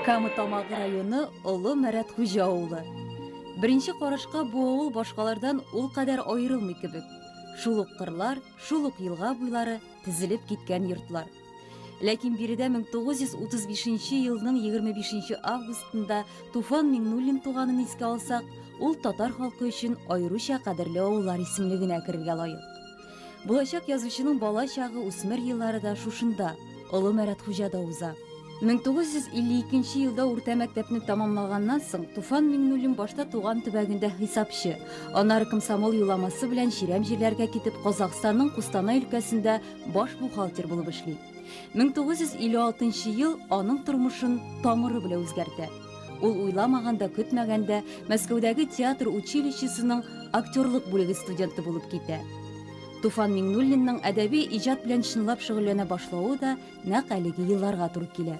Кама Тамагы районы Олы Мәрәт Хуҗа авылы. Беренче карашка бу авыл башкалардан ул кадәр аерылмый кебек. Шул ук кырлар, шул ук елга буйлары, тезелеп киткән йортлар. Ләкин биредә 1935 елның 25 августында Туфан Миңнуллин туганын искә алсак, ул татар халкы өчен аеруча кадерле авыллар исемлегенә керергә лаек. Булачак язучының бала чагы, үсмер еллары да шушында, Олы Мәрәт хуҗада уза. 1952 елда урта мәктәпне тәмамлаганнан соң Туфан Миңнуллин башта туган төбәгендә хисапчы, аннары комсомол юламасы белән чирәм җирләргә китеп Казахстанның Кустанай өлкәсендә баш бухгалтер булып эшли. 1956 ел аның тормышын тамыры белән үзгәртә. Ул уйламаганда, көтмәгәндә Мәскәүдәге театр училищесының актерлык бүлеге студенты булып китә. Туфан Миңнуллинның әдәби иҗат белән чынлап шөгыльләнә башлавы да нәкъ әлеге елларга туры килә.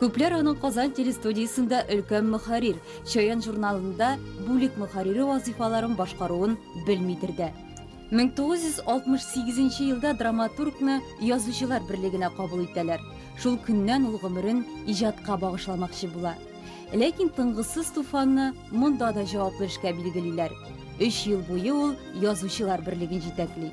Күпләр аның Казан телестудиясендә өлкән мөхәррир, Чаян журналында бүлек мөхәррире вазыйфаларын башкаруын белмидер дә. 1968 елда драматургны Язучылар берлегенә кабул итәләр. Шул көннән ул гомерен иҗатка багышламакчы була. Ләкин тынгысыз Туфанны монда да җаваплы эшкә билгелиләр. Өч ел буе ул Язучылар берлеген җитәкли.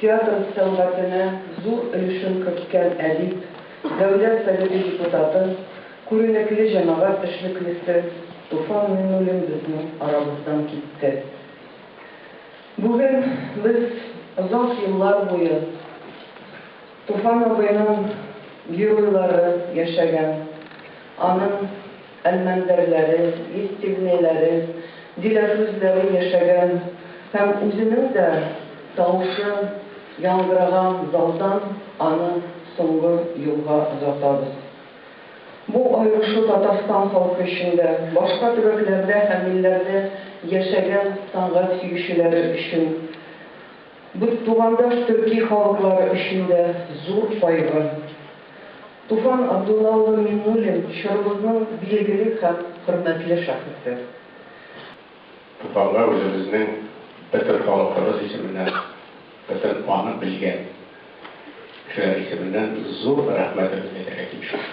Театр сәнгатенә зур өлешен керткән әдип, Дәүләт Советы депутаты, күренекле җәмәгать эшлеклесе Туфан Миңнуллин безнең арабыздан китте. Бүген без озак еллар буе Туфан абыйның геройлары яшәгән, аның. Әлмәндәрләре, Естивнейләре, Диләфрүзләре яшәгән һәм үзенең дә тавышы яңгыраган залдан аны соңгы юлга озатабыз. Бу аерешу Татарстан халкы өчен дә, башка төбәкләрдә һәм илләрдә яшәгән сәнгать сөючеләре өчен, бтугандаш төрки халыклары өчен дә зур кайгы. Туфан Абдулла улы Миңнуллин, чорыбызның билгеле һәм хөрмәтле шәхесе. Туфанга үзебезнең бөтен халкыбыз исеменнән, бөтен аны белгән кешеләр исеменнән зур рәхмәтебезне әйтергә тиешбез.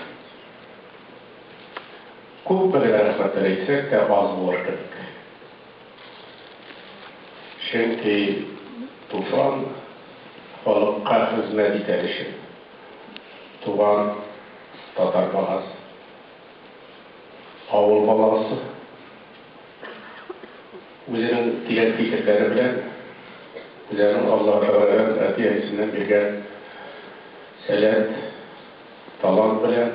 Күпме генә рәхмәтләр әйтсәк тә, аз булыр кебек. Чөнки Туфан халыкка хезмәт итәр өчен. Туган татар баласы, авыл баласы үзенең киләт фикерләре белән үзенең Алла Тәгаләдән әти-әнисеннән биргән сәләт, талант белән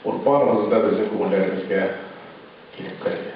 ул барыбызны безнең күңелләребезгә килеп керде.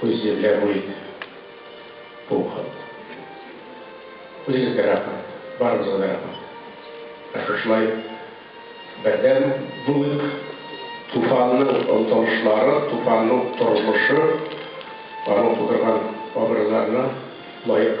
Күз җилләр үрит. Бу хат. Үзегезгә рәхмәт. Барыгызга да рәхмәт. Ә шушылай бердәм булыйк. Туфанның омтылышлары, Туфанның тормышы, аның тудырган абруйларына лаек.